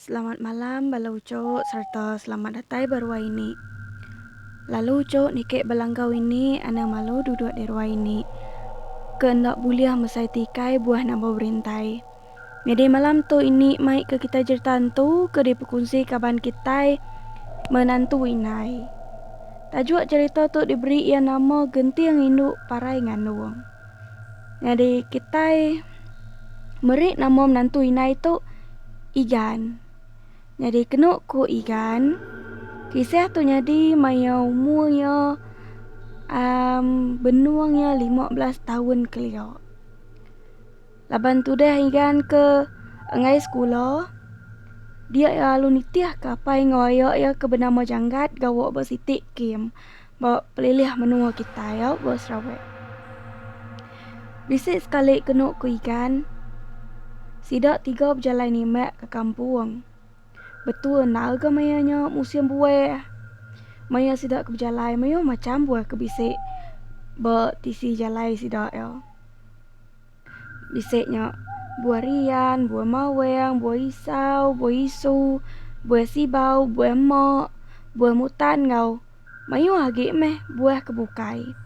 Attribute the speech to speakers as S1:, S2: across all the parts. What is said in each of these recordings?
S1: Selamat malam bala ucuk sereta selamat datai ba ruai ini. Lalu ucuk niki bala enggau ini anang malu duduk di ruai ini ke enda bulih mesai tikai buah nambau berintai. Nyadi malam tu ini mai ke kitai jerita entu ke dipekunsi kaban kitai menantu indai. Tajuk jerita tu diberi iya nama Genting Indu Parai Ngandung. Nyadi kitai meri nama menantu indai tu Igan. Nyadi kenu ku Igan kisah tu nyadi maya umur iya amm benung iya lima belas taun kelia. Laban tudah inggan ke enggai sekula, dia iya lalu nitih ke apai enggau aya iya ke benama Janggat gawa ba siti kem ba pelilih menua kitai au ba Sarawak. Bisi sekali kenu ku Igan, sida tiga bejalai nimak ke kampung. Betul enda ga maya nya musim buah. Maya sida ke bejalai mayuh macham buah ke bisi ba tisi jalai sida iya. Bisi nya buah rian, buah maweng, buah isau, buah isu, buah sibau, buah emok, buah mutan enggau mayuh agi meh buah ke bukai.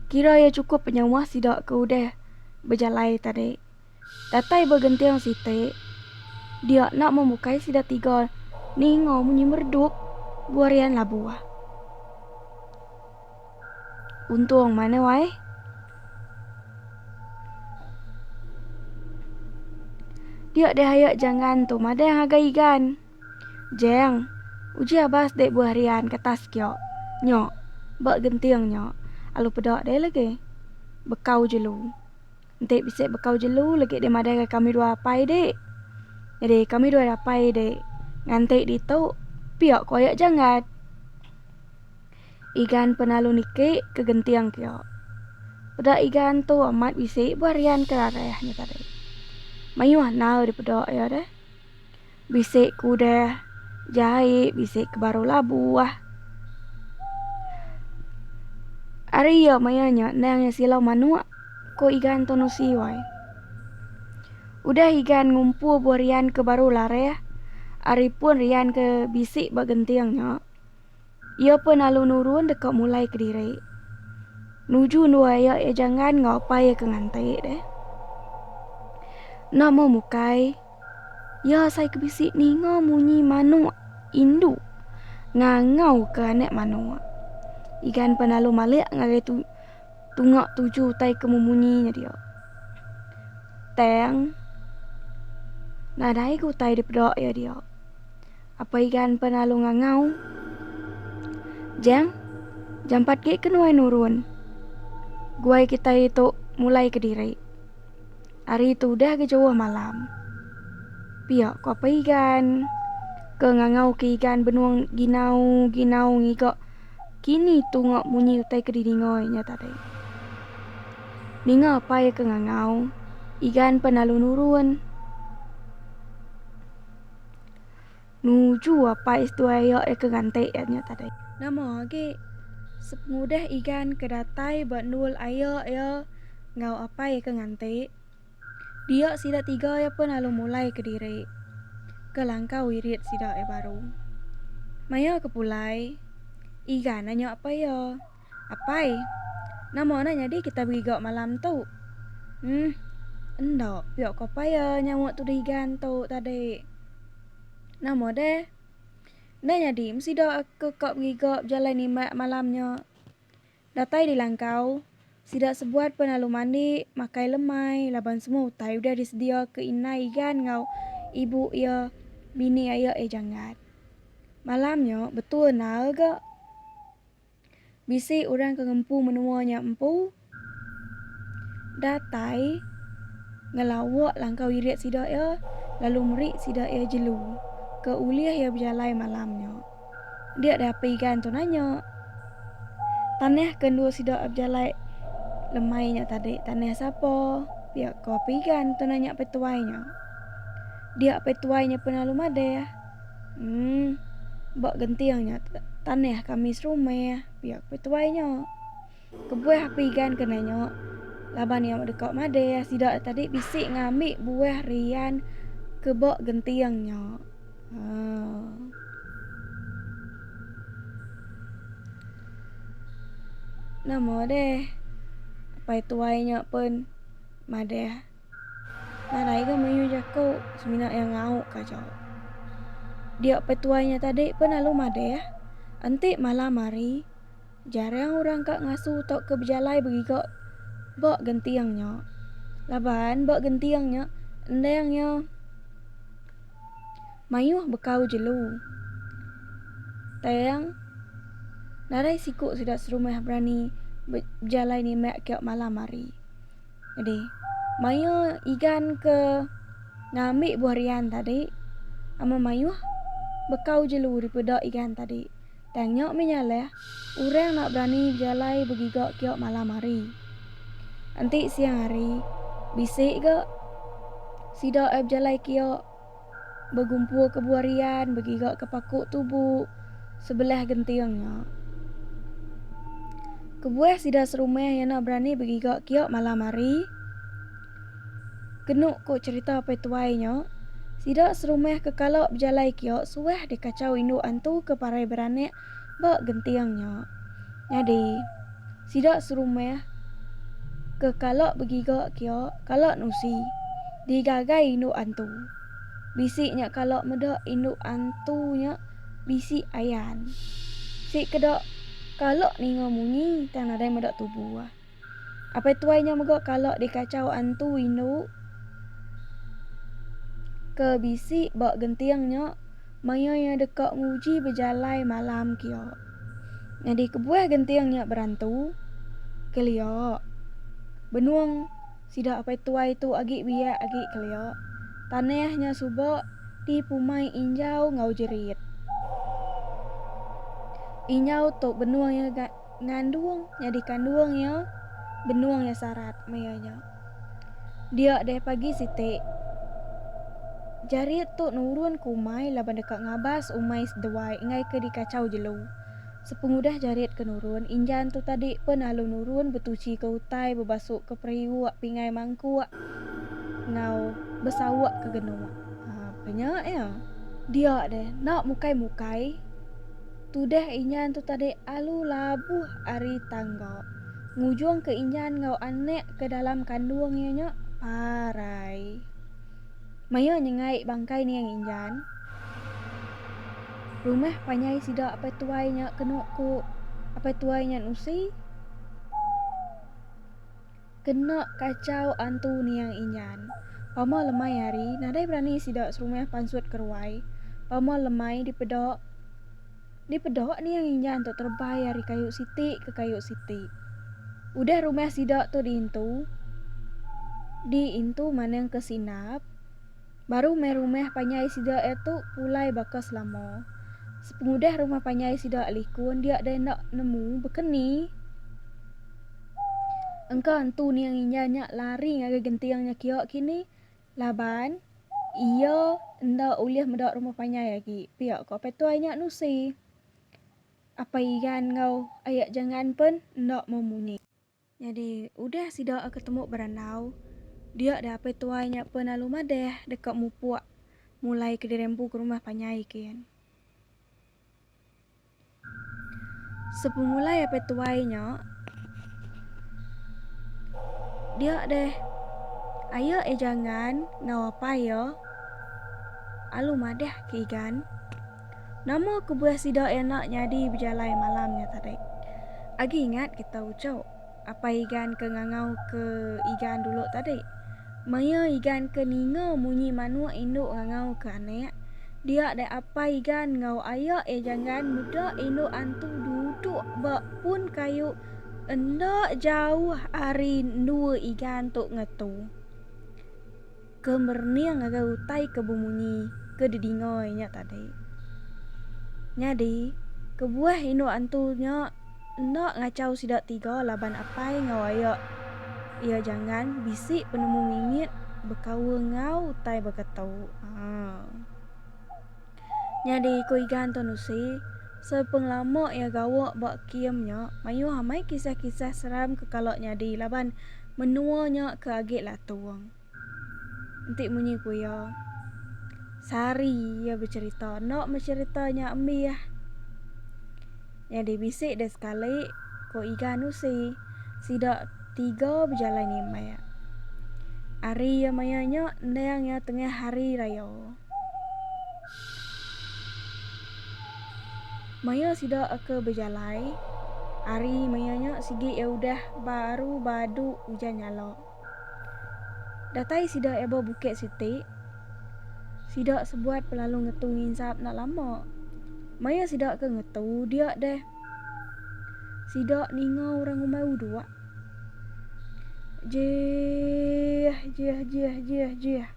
S1: Kira iya chukup penyawa sida ke udah bejalai tadi. Datai ba genting siti, dia enda memukai sida tiga ninga munyi meredup buah rian labu. Untung mana wai. Dia dihaya jangan tu madang haga igan. Jeng, uji abas dek buah rian ke tas kia. Nya, ba genting nya, alu peda dek lagi. Bekau jelu. Enti bisi bekau jelu legi deh madai ga kami dua apai dek. Nyadi kami dua apai dek nganti ditu pia koyak janggat. Igan penalu niki ke genting kia. Peda igan tu amat bisi buah rian ke rareh nya tadi. Mayuh anau dipeda iya deh. Bisi ke udah jai, bisi ke baru labuh. Ari iya maya nya endang iya silau manuk, ku Igan Tun Usi wai. Udah Igan ngumpu buah rian ke baru larih ari pun rian ke bisi ba genting nya. Iya pun lalu nurun deka mulai kediri. Nuju ndua iya iya janggan enggau apai iya ke nganti deh. Enda meh mukai, iya asai ke bisi ninga munyi manuk indu ngangau ke anak manuk. Igan pan lalu malik ngagai tu tunga tuju utai ke memunyi nya dia. Tang, nadai ga utai dipeda iya dia. Apai gan pan lalu ngangau. Jang, jampat gik ke nuai nurun. Guai kitai ituk mulai ke diri. Ari tu udah ga jauh malam. Piak ku apai gan ke ngangau ke igan benung ginau ginau ngiga kini tunga munyi utai ke didingai nya tadi. Ninga apai ke ngangau, igan pan lalu nurun. Nuju apai seduai iya deka nganti iya nya tadi. Nama agi sepengudah Igan ke datai ba endul aye iya enggau apai iya ke nganti, dia sida tiga iya pun lalu mulai kediri ke langkau wirid sida iya baru. Maya ke pulai, Igan nya apai iya. Apai, nama nah nyadi kitai begigau malam tu? Uhm, enda pia ko apai ya nyawa tuduh igan tu tadi. Nama deh? Enda nyadi meh sida aku ka begigau bejalai nimbak malam nya. Datai di langkau, sida sebuat pun lalu mandi, makai lemai laban semua utai udah disedia ke indai igan enggau ibu iya, bini ayak iya janggat. Malam nya betul naal ga. Bisi orang ke ngempu menua nya empu datai ngelawa langkau irit sida iya lalu meri sida iya jelu ke ulih iya bejalai malam nya. Dia deh api igan tu nanya. Tanah ke endur sida bejalai lemai nya tadi tanah sapa? pia ko api igan tu nanya apai tuai nya. Dia apai tuai nya pun lalu madah. Umm. Ba genting nya te tanah kami serumah pia ku tuai nya. Kebuah aku igan kena nya laban iya deka madah sida tadi bisi ngambi buah rian ke ba genting nya. Haa. Nama deh apai tuai nya pun madah. Nadai ga mayuh jaku semina iya ngau ka aja. Dia pe tuai nya tadi pun lalu madeh, enti malam hari jarang orang ka ngasu tauka bejalai begiga ba genting nya laban ba genting nya endang iya mayuh bekau jelu tang nadai siku sida serumah berani bejalai nimbak ka malam hari. Jadi, mayuh Igan ke ngambi buah rian tadi amat mayuh bekau jelu dipeda Igan tadi. Tang nya mih nyaleh orang enda berani bejalai begiga kiok malam hari. Enti siang hari bisi ga sida ai bejalai kiok. begumpul ke buah rian begiga ke paku tubu sebelah genting nya. Kebuah sida serumah iya nya berani begiga kiok malam hari. Kenu ku cherita pai tuai nya, sida serumah ke kala bejalai kiok suah dikachau indu antu ke parai beranak ba genting nya. Nyadi, sida serumah ke kala begiga kia kala nusi digagai indu antu. Bisi nya kala meda indu antu nya bisi ayan. Sikeda kala ninga munyi tang nadai meda tubuh. Apai tuai nya mega kala dikachau antu indu ke bisi ba genting nya maya iya deka nguji bejalai malam kia. Nyadi kebuah genting nya berantu, kelia. Benung sida apai tuai tu agi biak agi kelia. Tanah nya suba dipumai injau enggau jerit. Injau tu benung iya ga. Ngandung nyadi kandung iya, benung iya sarat maya nya. Dia deh pagi siti. Jari tu nurun ke umai laban deka ngabas umai seduai enggai ke dikachau jelu. Sepengudah Jarit ke nurun, Injan tu tadi pen lalu nurun betuchi ke utai bebasu ke periuk pingai mangkuk enggau besauk ke genuk. Apa nya iya? Dia deh enda mukai-mukai. Tudah inyan tu tadi alu labuh ari tangga, ngujungka inyan enggau anak ke dalam kandung iya nya parai. Maya nyengai bangkai niang inyan, rumah panyai sida apai tuai nya kenu ku apai tuai inyan Usi. Kena kachau antu niang inyan. Pama lemai hari, nadai berani sida serumah pansut ke ruai. Pama lemai dipeda dipeda niang inyan tu terebai ari kayu siti ke kayu siti. Udah rumah sida tu diintu diintu manang ke sinap. Baru meh rumah panjai sida ia tu pulai baka selama. Sepengudah rumah panjai sida likun dia deh enda nemu bekeni. Engka entu niang inja nya lari ngagai genting nya kia kini laban ia enda ulih meda rumah panjai agi, pia ko Petuai nya nusi. Apai Igan enggau Aya Jangan pen enda mau munyi. Nyadi, udah sida aka temu berandau, dia deh apai tuai nya pen lalu madeh deka mupuk mulai kediri empu ke rumah panjai kin. Sepemulai apai tuai nya, dia deh aye e jangan enggau apai iya alu madeh ke igan. Nama kebuah sida enda nyadi bejalai malam nya tadi. Agi ingat kita ujuk apai Igan ke ngangauka Igan dulu tadi. Maya Igan ke ninga munyi manuk indu ngangauka anak, dia deh apai Igan enggau aya iya Janggan meda indu antu duduk ba pun kayu enda jauh ari endua Igan tu ngetu. Ke merening ngagai utai ke bemunyi ke didingoi nya tadi. Nyadi, kebuah indu antu nya enda ngachau sida tiga laban apai enggau aya iya Janggan bisi penemu mimit bekaul enggau utai baka tu. Haa. Nyadi ku Igan Tun Usi, sepengelama iya gawa ba kem nya, mayuh amai kisah-kisah seram ke kala nyadi laban menua nya ke agi latung. Enti munyi ku iya, sehari iya becherita enda meh cherita nya ambis. Nyadi bisi deh sekali ku Igan Usi sida tiga bejalai nimbek. Hari iya maya nya endang iya tengah hari raya. Maya sida ke bejalai hari maya nya sigi iya udah baru badu ujan nyala. Datai sida eba bukit siti, sida sebuat pelalu ngetu nginsap enda lama. Maya sida ke ngetu dia deh, sida ninga orang umai uduak. Jiih, jiih, jiih, jiih, jiih.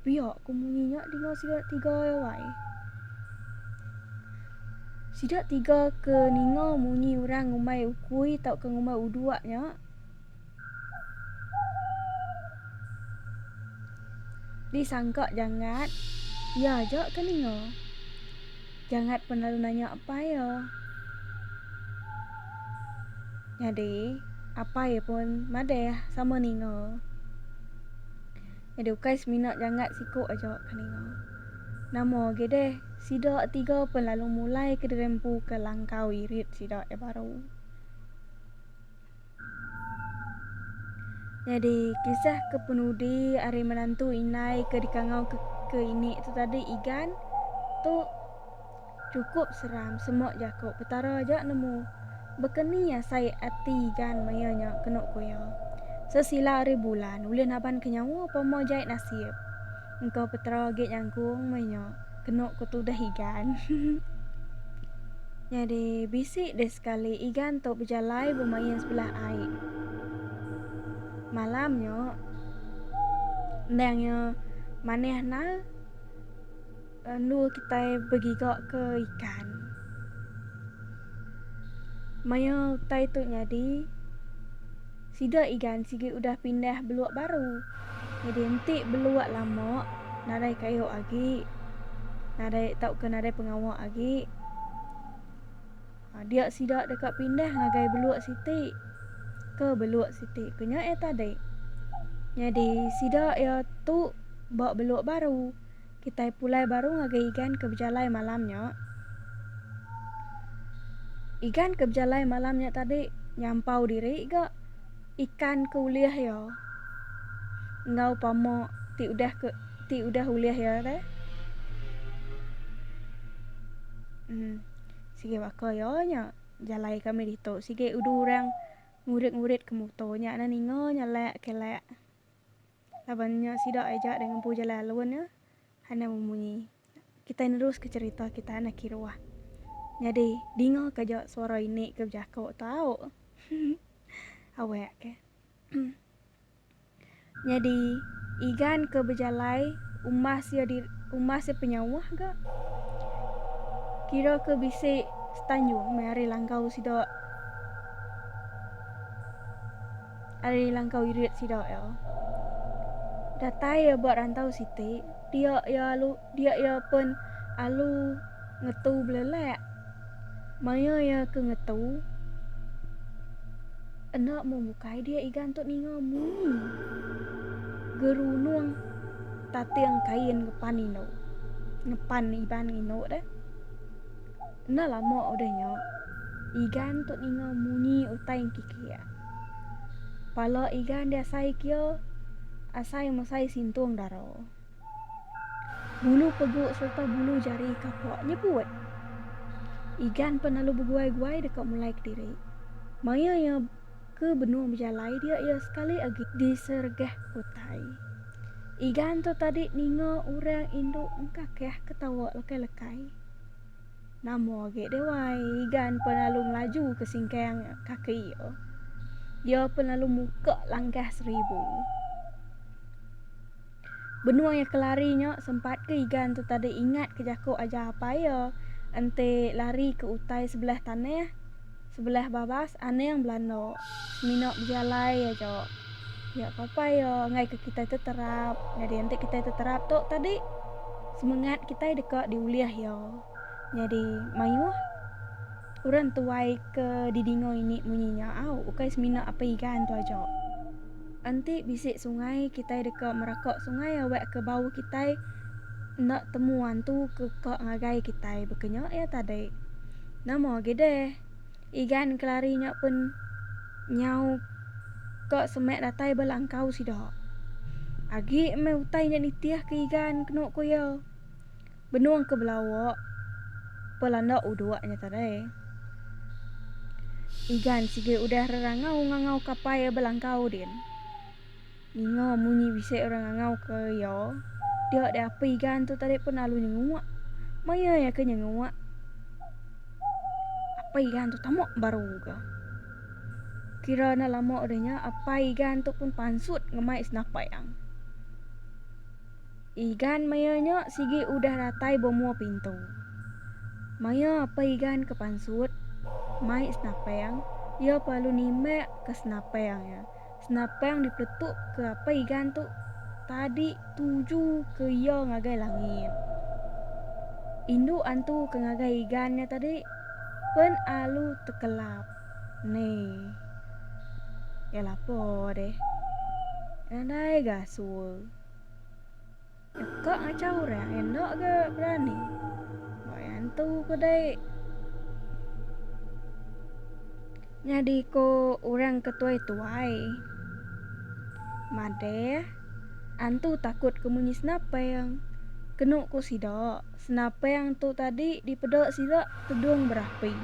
S1: Pia ku munyi nya dinga sida tiga iya wai. Sida tiga ke ninga munyi orang ngumbai ukui tauka ngumbai uduak nya. Disangka Jangat, Iya aja ke ninga. Jangat pun lalu nanya apai iya. Nyadi, apai pun madah sama ninga. Nyadi ukai semina Jangat siku aja ke ninga. Nama agi deh, sida tiga pun lalu mulai ke dirempuka langkau irit sida iya baru. Nyadi, kisah ke penudi ari menantu indai ke dikangau ke, ke ini tu tadi Igan tu cukup seram semok jako Petara aja nemu. Bekeni asai ati Igan maya nya keno koya. Sesila ari bulan ulih naban ke nyawa pama jai nasib. Engkau petera agi nyangkung meh nya kenu ku tudah Igan. Nyadi bisi deh sekali Igan tu bejalai bemain sebelah ai. Malam nya endang iya manah nal. Lalu kitai begiga ke ikan. Maya utai tu nyadi, sida igan sigi udah pindah beluk baru. Nyadi enti beluk lama nadai kayu agi, nadai tauka nadai pengawa agi, aa dia sida deka pindah ngagai beluk siti ke beluk siti ke nya iya tadi. Nyadi sida iya tu ba beluk baru. Kitai pulai baru ngagai Igan ke bejalai malam nya. Igan ke bejalai malam nya tadi nyampau diri ga ikan ke ulih iya enggau pama ti udah ke ti udah ulih iya re. Uhh sigi baka iya nya jalai kami ditu sigi udu orang ngurit-ngurit ke muto nya ninga nya lek ke lek. Laban nya sida ai jaat ngempu jalai alun nya Hana memunyi. Kitai neruska cherita kita Hana kiruah. Nyadi, dingaka aja suara ini ke bejaku tu au. Awek ke. Nyadi, Igan ke bejalai umbas iya di umbas iya penyauh ga. Kira ke bisi setanjung meh ari langkau sida. Ari langkau irit sida iya datai iya ba rantau siti dia iya alu dia iya pen alu ngetu belelak maya iya ke ngetu enda mung bukai dia iga entu ninga munyi gerunung tating kain ngepan indu ngepan iban indu deh. Enda lama udah nya, Igan tu ninga munyi utai engkikik. Pala Igan diasai kia asai mesai sintung dara. Bulu peguk sereta bulu jari kapak nyebut. Igan pan lalu beguai-guai deka mulai kediri. Maya iya ke benung bejalai dia iya sekali agi disergah utai. Igan tu tadi ninga orang indu engkakah ketawa lekai-lekai. Nama agi deh wai, Igan pen lalu ngelaju ke singkang kaki iya. Iya pen lalu muka langkah seribu. Benung iya kelari nya sempat ke Igan tu tadi ingat ke jaku ajar apai iya enti lari ke utai sebelah tanah Sebelah babas Anang belanda. Semina bejalai aja. Pia ke apai iya ngaika kitai teterap. Nyadi enti kitai teterap tu tadi semengat kitai deka diulih iya. Nyadi mayuh orang tuai ke didinga ini munyi nya au ukai semina apai Igan tu aja. Enti bisi sungai kitai deka meraka sungai awak ke bau kitai enda temu antu ke ka ngagai kitai baka nya iya tadi. Nama agi deh. Igan kelari nya pun nyau ka semek datai ba langkau sida. Agi meh utai nya nitih ke Igan kenu ku iya. Benung ke belawa pa landa uduk nya tadai. Igan sigi udah rerangau ngangau kapai ba langkau din. Ninga munyi bisi orang ngangauka iya, dia deh api igan tu tadi pun lalu nyenguk. Maya iya ke nyenguk, api igan tu tama baru ke. Kira enda lama udah nya, api igan tu pun pansut ngemai senapang. Igan maya nya sigi udah datai ba mua pintu. Maya api igan ke pansut mai senapang, iya pa lalu nimbak ke senapang iya. Senapang dipeletuk ke apai Igan tu tadi tuju ke iya ngagai langit. Indu antu ke ngagai Igan nya tadi pen alu tekelap. Ni. Ya lapo deh. Nadai ga sue. Teka macam orang enda ke berani. Ba yang tu ke dek. Nyadi ko orang ke tuai-tuai. Madeh antu takut ke munyi senapang. Kenu ko sida, senapang tu tadi dipeda sida tudung berapi.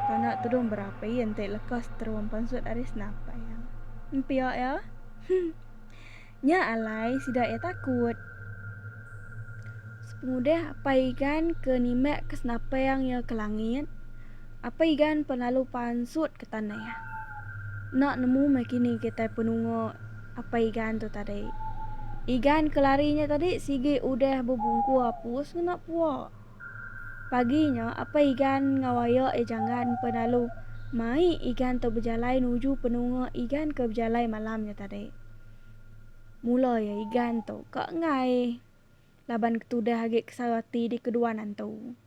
S1: Tanda tudung berapi enti lekas terum pansut ari senapang. Empia ya. Nya alai sida iya takut. Sepengudah Apai Igan ke nimbak ke senapang iya ke langit, Apai Igan pan lalu pansut ke tanah. Enda nemu meh kini kitai penunga Apai Igan tu tadi. Igan ke lari nya tadi sigi udah bebungku apus ngena pua. Pagi nya Apai Igan enggau aya iya janggan pan lalu mai Igan tu bejalai nuju penunga Igan ke bejalai malam nya tadi. Mula iya Igan tu ka enggai laban ketudah agi kesau ati dikeduan antu.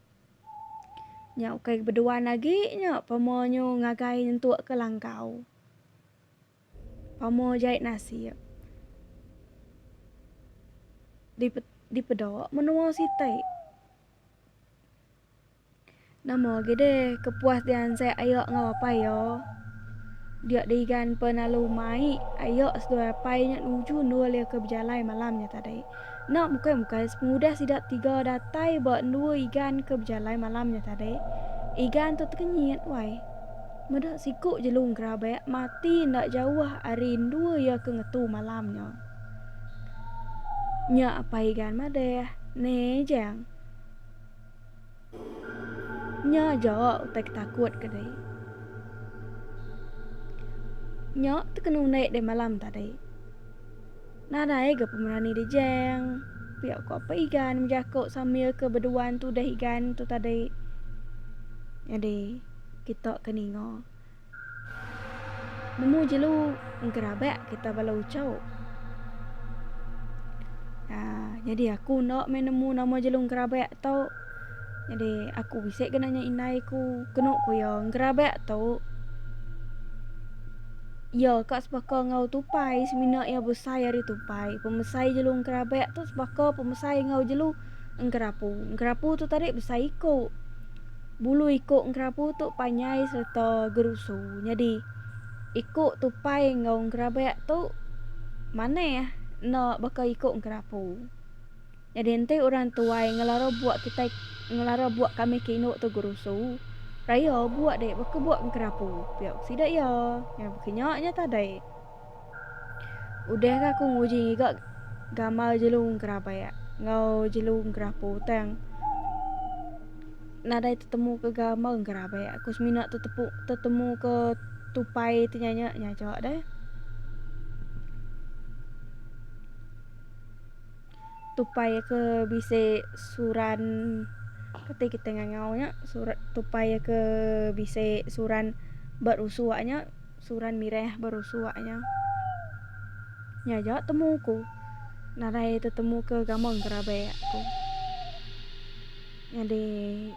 S1: Nya ukai beduan agi nya pama nyu ngagai nyentuk ke langkau. Pama jai nasib. Dipeda menua siti. Nama agi deh ke puas diansek ayo enggau apai iyo. Dia digan pe lalu mai ayo seduai apai nya nuju endur iya ke bejalai malam nya tadi. Enda bukai bukai sepengudah sida tiga datai ba endur igan ke bejalai malam nya tadi. Igan tu tekenyit wai. Meda siku jelung ke rabek mati enda jauh ari endur iya ke ngetu malam nya. Nya apai igan madeh, Nejeng. Nya aja utai ke takut ke deh. Nya tu kena unik deh malam tadi. Nadai ga pemerani di jeng. Pia ko apa igan bejaku sambil ke beduan tuduh igan tu tadi. Jadi kita ke ninga. Nemu jelu gerabak kita bala ucau. Ha, jadi aku enda meh nemu nama jelu gerabak tu. Jadi aku bisi ke nanya indai ku, kenu ku iya gerabak tu iya ka sebaka enggau tupai semina iya besai ari tupai. Pemesai jelu gerabak tu sebaka pemesai enggau jelu gerapu. Gerapu tu tadi besai iku. Bulu iku engkerabu tu panjai sereta gerusu nyadi iku tupai enggau engerabak tu manah enda baka iku engkerabu. Nyadi enti orang tuai ngelara buk kitai ngelara buk kami ke indu tu gerusu, raya buk deh baka buk engkerabu pia sida iya. Baka nya nya tadi. Udah ka aku nguji ngiga gamal jelu gerah bayak enggau jelu gerah putang. Nadai tetemu ke gamal gerah bayak aku semina tetepu tetemu ke tupai ti nyanya nyaja deh. Tupai ke bisi suran keti kita ngangau nya surat tupai ke bisi suran ba rusu nya. Suran mireh baru suak nya. Nya ja temu ku narai tetemu ke gamang kerabe aku. Nyadi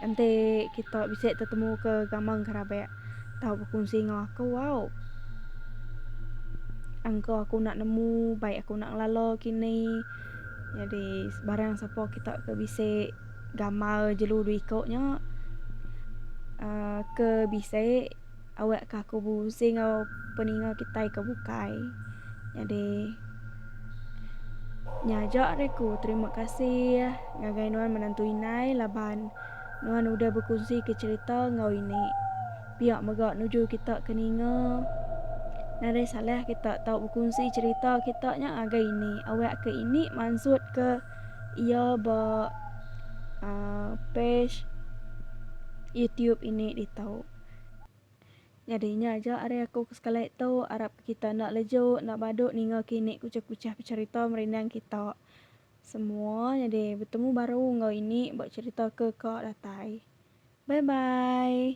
S1: enti kita bisi tetemu ke gamang kerabe tau bekunsi enggau aku au. Angka aku nak nemu baik aku nak ngelala kini. Nyadi sebarang sapa kita ke bisi gamal jelu dua iko nya uhh ke bisi. awak ka aku busy enggau peninga kitai ke bukai. Nyadi nya aja ari aku terima kasih ngagai nuan menantu indai laban nuan udah bekunsi ke cerita enggau ini. Pia mega nuju kita ke ninga nadai salah kita tau bekunsi cerita kita nya ngagai ini awak ke ini mansut ke iya ba aaa page YouTube ini ditu. Nyadi nya aja ari aku ke sekali tu, arap ke kita enda leju, enda badu ninga kini kuchah-kuchah pecherita merindang kita semua nyadi betemu baru enggau ini ba cherita ke ka datai. Bye bye.